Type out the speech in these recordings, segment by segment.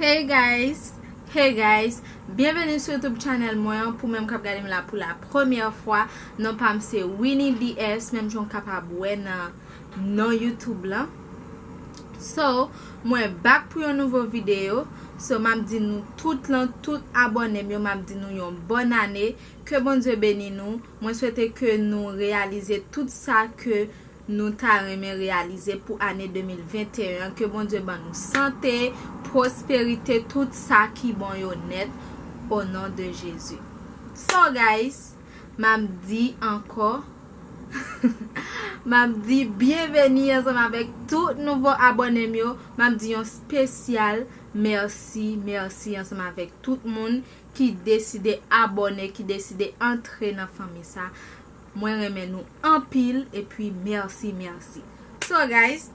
Hey guys, hey guys, byenveni sou youtube channel mwen an pou menm kap gade m la pou la premyè fwa, non pa m se Winnie DS menm jan w kapab wè nan. non youtube lan so mwen back pou yon nouvo video so map di nou tout lan tout abònem yo map di nou yon bòn ane ke Bondye beni nou mwen swete ke nou reyalize tout sa ke nou ta renmen reyalize pou ane 2021 an ke Bondye ban nou sante prosperite tout sa ki bon yo nèt o non de Jezi so guys. Map di ankò Map di byenveni ansanm avèk tout nouvo abònem yo Map di yon spesyal mèsi mèsi ansanm avèk tout moun ki deside abòne ki deside antre nan fanmi sa Mwen renmen nou anpil epi mèsi mèsi So guys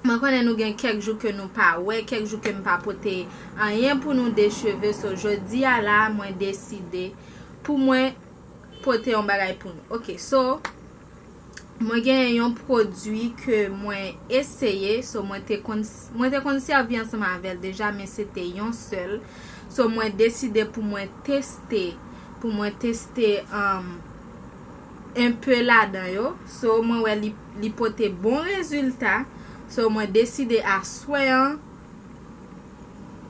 Mwen konnen nou gen kèk jou ke nou pa wè kèk jou kem pa pote anyen pou nou de cheve so jodia la mwen deside Pou mwen pote yon bagay pou nou. Ok so mwen genyen yon pwodwi ke mwen eseye. So mwen te konn mwen te konn sèvi ansanm avèl deja men se te yon sèl. So mwen deside pou mwen teste pou mwen teste en pe ladan yo. So mwen wè li pote bon rezilta. So mwen deside aswè an.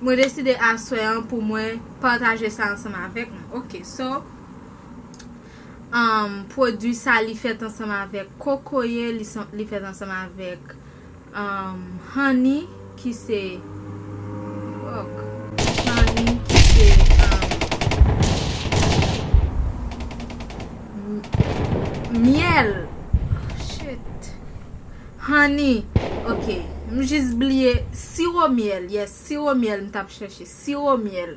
Mwen deside aswè an pou mwen pataje sa ansanm avèk nou ok so Am pwodwi sa li fèt ansanm avèk kokoye li fèt ansanm avèk Am hanni ki se ok hanni ki se Am myèl oh shit. Honey ok m jis bliye siro myèl yes siro myèl m tap chèche siro myèl.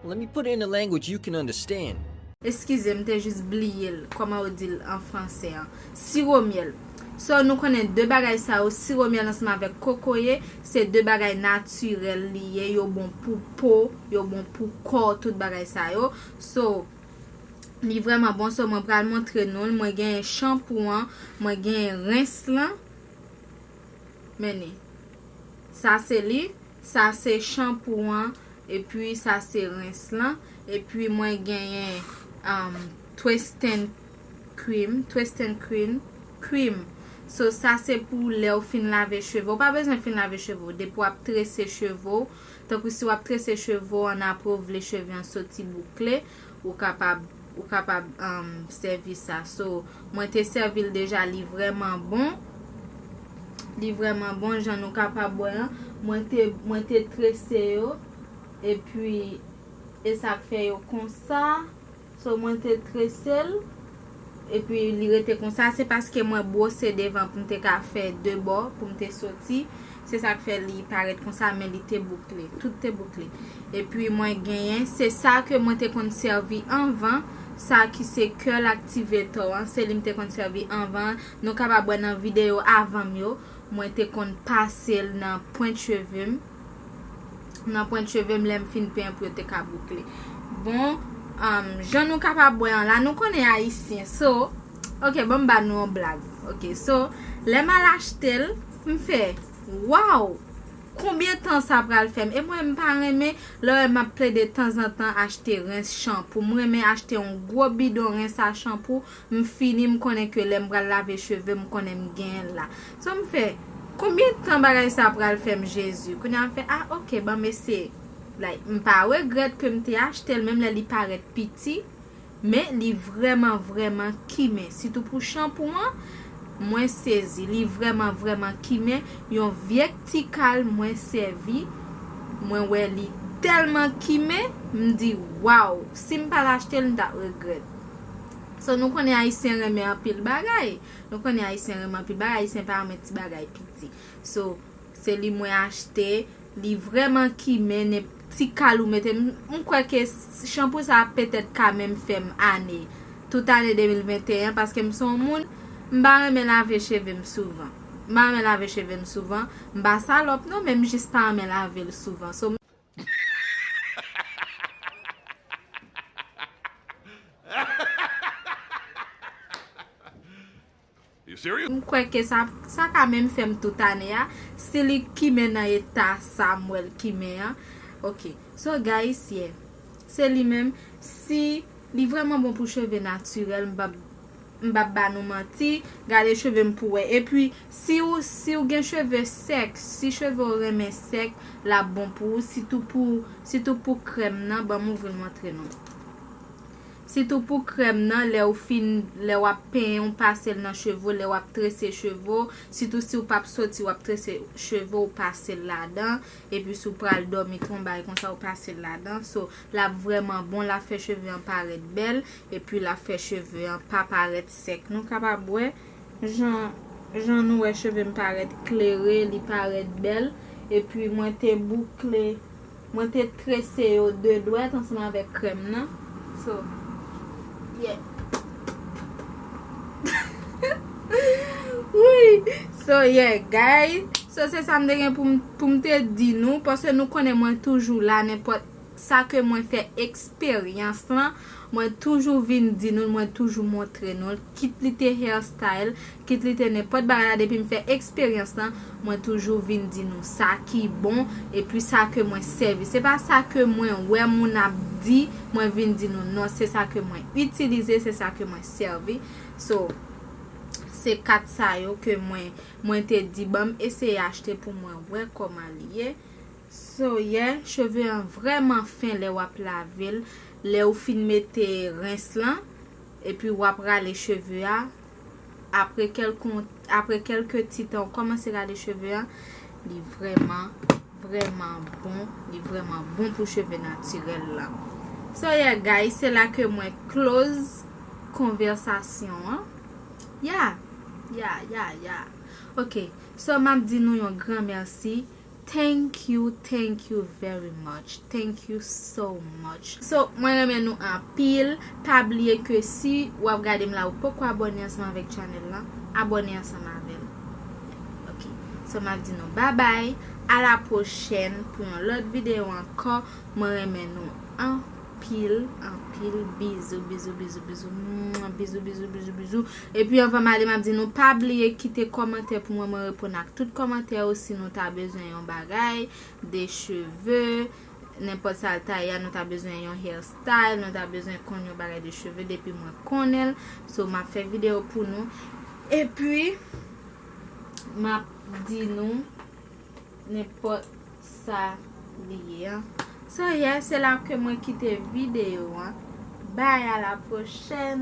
Let me put it in a language you can understand. Eskize m te jis bliye l kòman yo di l an fransè an siro myèl so nou konnen 2 bagay sa yo siro myèl ansanm avèk kokoye se 2 bagay natirèl li ye yo bon pou po yo bon pou kò tout bagay sa yo so Li vreman bon so mwen pral montre nou l mwen genyen chanpou an mwen genyen rens lan men ni sa se li sa se chanpou an epi sa se rens lan epi mwen genyen um, twesten krim twesten krim krim so sa se pou lèw fin lave cheve ou pa bezwen fin lave cheve ou depi wap trese cheve ou Tankou si wap trese cheve w an apre w vle cheve an soti boukle ou kapab ou kapab sèvi sa so mwen te sèvi l deja li vrèman bon li vrèman bon jan nou kapab wè an mwen te mwen te trese yo epi esak fè yo konsa. So mwen te tresel epi li rete konsa se paske mwen bwose devan poum te ka fè 2 bò poum te soti se sak fè li parèt konsa men li te boukle tout te boukle epi mwen genyen se sa ke mwen te konn sèvi anvan sa ki se curl activator an se li mte konn sèvi anvan an nou kapab wè nan video avanm yo mwen te konn pasel nan pwent chevem. nan pwent cheve m lèm fin pen pou yo te ka boukle bon jan nou kapab wè an la nou konnen ayisyen so ok bon m ba nou yon blag ok so lè m al achte l m fè waw konbyen tan sa pral fèm e mwen m pa renmen lè w wè m ap plede tanzantan achte rens chanpou m renmen achte yon gwo bidon rens a chanpou M fini m konnen ke lèm pral lave chevem m konnen m genyenl la so m fè Konbyen tan bagay sa pral fèm Jezi kounya m fè ah ok banm eseye like m pa regrèt kem te achtel menm lè li parèt piti men li vrèman vrèman kimen sitou pou chanpou an mwen sezi li vrèman vrèman kimen yon vyek ti kal mwen sèvi mwen wè li tèlman kimen m di waww sim pat achtel m tap regrèt. So nou konnen ayisyen renmen anpil bagay Nou konnen ayisyen renmen anpil bagay ayisyen pa renmen ti bagay piti So se li mwen achte Li vreman kimen nenp ti kal ou mete M kwe ke chanpou sa petet ka menm fem ane Tout ane 2021 paske m son moun M pa renmen lave cheve m souvan M pa renmen lave cheve m souvan M pa salop non men m jis pa renmen lave l souvan So m. M kwè ke sa sa ka menm fèm tout ane a si li kimen nan eta sa m wè l kimen an ok so guys yeah se li menm si li vrèman bon pou cheve natirèl m pap M pap ba nou manti, gade cheve m pou wè. Epi, si ou si ou gen cheve sèk, si cheve ou renmen sèk, l ap bon pou ou. Sitou pou sitou pou krèm nan, ban m ouvri l montre nou. Sitou pou krèm nan, lè ou fin, lè w ap penyen, ou pase l nan cheve ou, lè w ap trese cheve ou, sitou si ou pap soti w ap trese cheve ou, ou pase l ladan. Epi si ou pral dòmi, ton bagay konsa, ou pase l ladan. So, l ap vrèman bon, l ap fè cheve an parèt bèl. Epi lap fè cheve an pa parèt sèk nou kapab wè jan jan nou wè chevem parèt klere li parèt bèl epi mwen te boukle mwen te trese yo 2 dwèt ansanm avèk krèm nan so yeah wouyy so yeah guys so se sam te gen poum te di nou paske nou konnen mwen toujou la nenpòt Sa ke mwen fè eksperyans lan, mwen toujou vin di nou l, mwen toujou montre nou l, kit li te hair style, kit li te nenpòt bagay la depi m fè eksperyans lan, mwen toujou vin di nou sa ki bon epi sa ke mwen sèvi. Se pa sa ke mwen wè moun ap di mwen vin di nou non, se sa ke mwen itilize, se sa ke mwen sèvi. So, se 4 sa yo ke mwen, mwen te di banm eseye achte pou mwen wè kòman li ye. Soyè, cheve an vrèman fen lè wap lavel, lè ou fin mete rens lan, epi wap rale cheve a, apre kelke ti tan ou kòmanse rale cheve an, li vrèman, vrèman bon, li vrèman bon pou cheve natirèl la. So yeah guys, se la ke mwen close konvèsasyon an. Yeah, yeah, yeah, yeah. Ok, so map di nou yon gran mèsi. Thank you thank you very much thank you so much so mwen renmen nou anpil pa bliye ke si wap gadem la ou poko abone ansanm avek channel lan abone ansanm avem ok so map di nou babay a la prochèn pou yon lot video anko mwen renmen nou anpil. anpil anpil bizou bizou bizou bizou mwah bizou bizou bizou bizou epi anvan m ale map di nou pa bliye kite kòmantè pou mwen mwen reponn ak tout kòmantè yo si nou ta bezwen yon bagay de cheve nenpòt sa l ta ye a nou ta bezwen yon hair style nou ta bezwen konn yon bagay de cheve depi mwen konnen l so map fè video pou nou epi map di nou. Nenpòt sa li ye an. So yeah se la ke mwen kite video an. Bye a la prochèn.